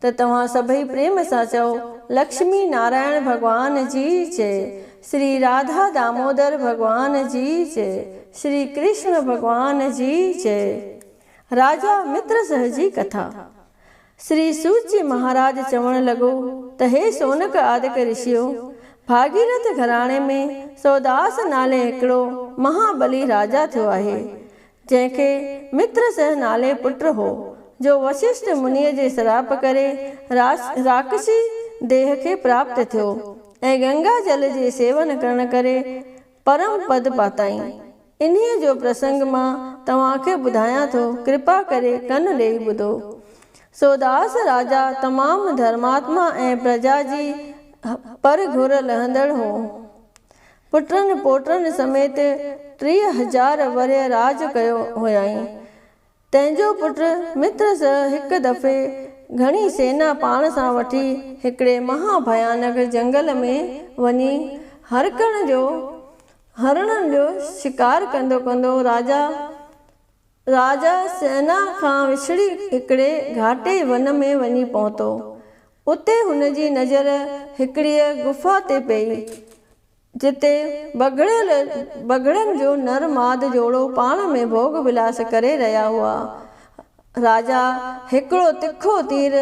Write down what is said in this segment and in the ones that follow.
ته توهان سڀئي پريم سان چئو، لڪشمي نارائڻ ڀڳوان جي جئه، شري راڌا دامودر ڀڳوان جي جئه، شري ڪرشڻ ڀڳوان جي جئه. راجا مترسهه جي ڪٿا. شري سوت جي مهاراج چوڻ لڳو ته هي شونڪ آدڪ رشيو! ڀاڳيرٿ گهراڻي ۾ سوداس نالي هڪڙو مها ٻلي راجا ٿيو آهي. جنهن کي مترسه نالي پٽ هو، جو وششٽ منيء جي سراپ ڪري راش راڪشي ديهه کي پراپت ٿيو ۽ گنگا جل جي سيون ڪرڻ ڪري پرم پد پاتائين. انهيء جو پرسنگ مان توهان کي ٻڌايان ٿو، ڪرپا ڪري ڪن ڏيئي ٻڌو. سو داس راجا تمام ڌرماتما ۽ پرجا جي پر گهر لهندڙ هو. پٽن پوٽن سميت ٽيهه هزار ورهيه راڄ ڪيو هيائين. تنهن جو پٽ مترس هڪ دفعي گهڻي سينا پاڻ سان وٺي هڪڙي مها ڀيانڪ جنگل ۾ وڃي هرڪڻ جو، هرڻن جو، شڪار ڪندو ڪندو راجا، راجا سئنا کان وڇڙي هڪڙي گهاٽي ون ۾ وڃي پهتو. اتي هن جي نظر هڪڙيء غفا تي پيئي، جتي بگهڙيل بگهڙن جو نر ماد جوڙو پاڻ ۾ ڀوڳ ولاس ڪري رهيا هئا. راجا هڪڙو تکو تير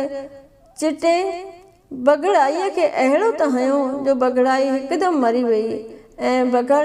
چٽي بگهڙائيء کي اهڙو ته هنيو جو بگهڙائي هڪدم مري ويئي ۽ بگهڙ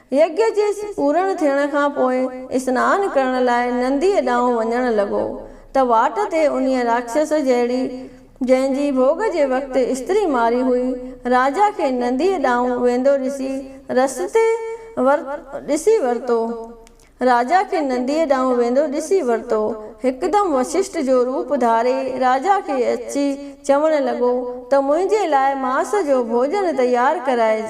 يگيء جي پورڻ ٿيڻ کان پوء اسنان ڪرڻ لاء ننديء ڏانهن وڃڻ لڳو ته واٽ تي انهيء راڪشس جهڙي، جنهن جي ڀوڳ جي وقت استري ماري هئي، راجا کي ننديء ڏانهن ويندو ڏسي رستي ور ڏسي ورتو. راجا کي ننديء ڏانهن ويندو ڏسي ورتو. هڪدم وششٽ جو روپ ڌاري راجا کي اچي چوڻ لڳو ته منهنجي لاء ماس جو ڀوڄن تيار ڪرائج.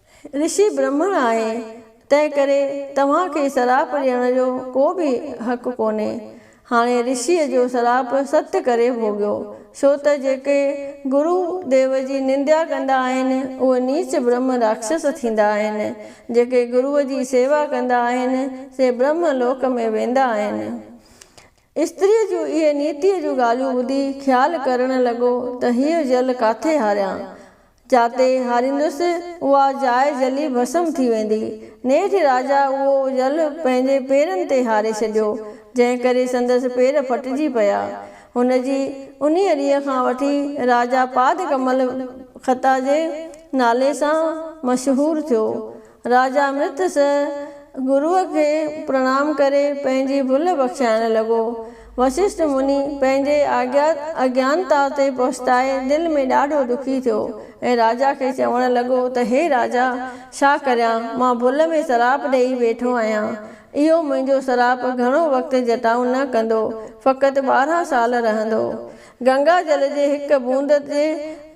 رشي برهمڻ آهي، تنهن ڪري توهان کي سراپ ڏيڻ جو ڪو به حق ڪونهي. هاڻي رشيء جو سراپ ست ڪري ڀوڳيو، ڇو ته جيڪي گرو ديو جي ننديا ڪندا آهن، اهي نيچ برهمه راڪشس ٿيندا آهن. جيڪي گرو جي سيوا ڪندا آهن، سي برهمه لوڪ ۾ ويندا آهن. استريء جون اهي نيتيء جون ڳالهيون ٻڌي خيال ڪرڻ لڳو ته هيء جل ڪاٿي هاريان؟ جاتي هاريندس، اها جاء جلي ڀسم ٿي ويندي. نيٺ راجا اهو جل پنهنجي پيرن تي هاري ڇڏيو، جنهن ڪري سندس پير ڦٽجي پيا. هن جي انهيء ڏينهن کان وٺي راجا پادڪمل خطا جي نالي سان مشهور ٿيو. راجا امرتس گروء کي پرڻام ڪري پنهنجي ڀل بخشائڻ لڳو. وسشٽ مني پنهنجي آجيا اجيانتا تي پڇتائي دل ۾ ڏاڍو ڏکي ٿيو ۽ راجا کي چوڻ لڳو ته هي راجا! ڇا ڪريان؟ مان ڀل ۾ سراپ ڏيئي ويٺو آهيان. اهو منهنجو سراپ گهڻو وقت جٽائون نه ڪندو، فقط ٻارهن سال رهندو. گنگا جل جي هڪ بوند جي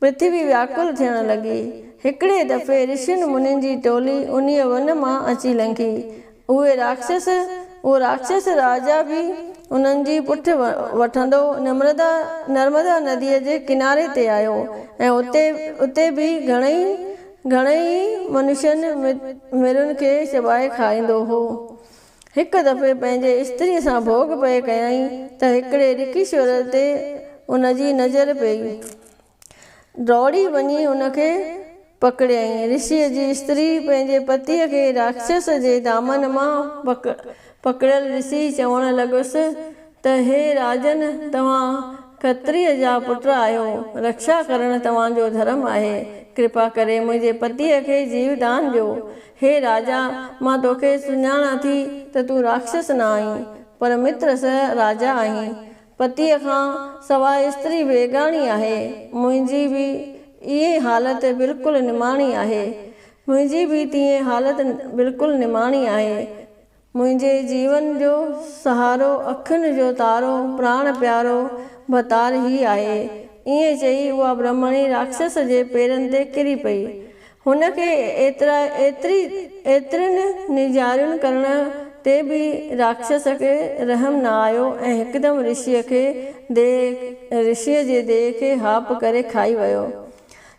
پرٿوي وياڪل ٿيڻ لڳي. هڪڙي دفعي رشين منين جي ٽولي انهيء ون مان اچي لنگهي. اهي راڪشس، اهو راڪشس راجا به انهن جي پٺ وٺندو نمردا، نرمدا، نديء جي ڪناري تي آيو ۽ اتي، اتي به گهڻئي، گهڻئي ئي منشين، مرين کي چٻائي کائيندو هو. هڪ دفعي پنهنجي استريء سان ڀوڳ پئي ڪيائين ته هڪڙي رڪشور تي ان جي نظر پيئي. ڊوڙي وڃي ان کي پڪڙيائين. رشيء جي استري پنهنجي پتيء کي راڪشس جي دامن مان پڪڙيل ڏسي چوڻ لڳس ته هي راجن توهان کتريء جا پٽ آهيو، رڪشا ڪرڻ توهان جو ڌرم آهي، ڪرپا ڪري منهنجي پتيء کي جيو دان ڏيو. هي راجا، مان توکي سڃاڻان ٿي ته تون راڪشس نه آهين، پر متر سه راجا آهين. پتيء کان سواء استري بيگاڻي آهي. منهنجي به ايئن حالت بلڪل نماڻي آهي. منهنجي به تيئن حالت بلڪل نماڻي آهي. منهنجي جيون جو سهارو، اکين جو تارو، پراڻ پيارو ڀتار هي آهي. ائين چئي اها برهمڻي راڪشس جي پيرن تي ڪري پئي. هن کي ايترا ايتري ايترين نيڄاريون ڪرڻ تي به راڪشس کي رحم نه آيو ۽ هڪدم رشيء کي ديهه رشيء جي ديهه کي هاپ ڪري کائي ويو.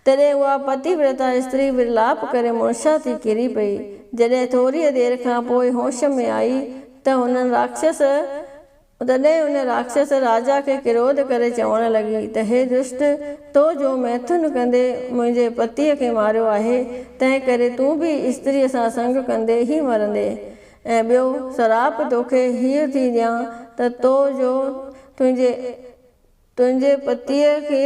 تڏهن اها پتي ورتا استري ورلاپ ڪري مڙشا ٿي ڪري پئي. جڏهن ٿوريء دير کان پوء هوش ۾ آئي ته هنن راڪشس تڏهن ان راڪشس راجا کي ڪروڌ ڪري چوڻ لڳي ته هي دشٽ! تو جو ميٿن ڪندي منهنجي پتيء کي ماريو آهي، تنهن ڪري تون به استريء سان سنگ ڪندي ئي مرندين. ۽ ٻيو سراپ توکي هيء ٿي ڏيان ته تو جو تنهنجي تنهنجي پتيء کي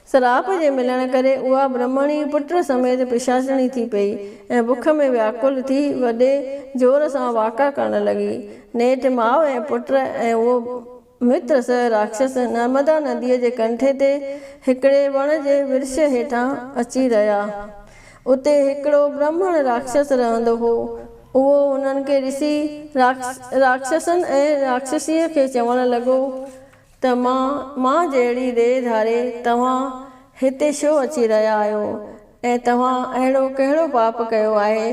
سراپ جي ملڻ ڪري اها برهمڻي پٽ سميت پشاچڻي ٿي پئي ۽ بک ۾ وياڪل ٿي وڏي زور سان واڪا ڪرڻ لڳي. نيٺ ماء ۽ پٽ ۽ اهو متر سهه راڪشس نرمدا نديء جي ڪنٺي تي هڪڙي وڻ جي ورش هيٺان اچي رهيا. اتي هڪڙو برهمڻ راڪشس رهندو هو. اهو هنن کي ڏسي راڪشسن ۽ راڪشسيء کي چوڻ لڳو ته مان مان جهڙي ريء ڌاري توهان هتي ڇو اچي رهيا آهيو ۽ توهان اهڙو ڪهڙو پاپ ڪيو آهي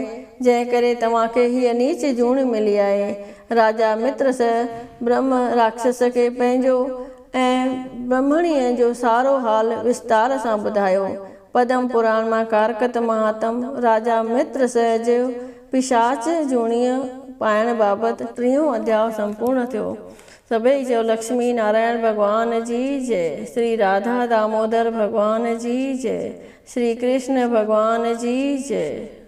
جنهن ڪري توهان کي هيء نيچ جوڻي ملي آهي؟ راجا مترس برهمه راڪشس کي پنهنجو ۽ برهمڻيء جو سارو حال وستار سان ٻڌايو. پدم پراڻ مان ڪارڪت مهاتم راجا مترس جو پشاچ جوڻيء پائڻ بابت ٽيون اڌياء سمپورڻ ٿيو. سڀئي چيو لڪشمي نارائڻ ڀڳوان جي جئه، شري راڌا دامودر ڀڳوان جي جئه، شري ڪرشن ڀڳوان جي جئه.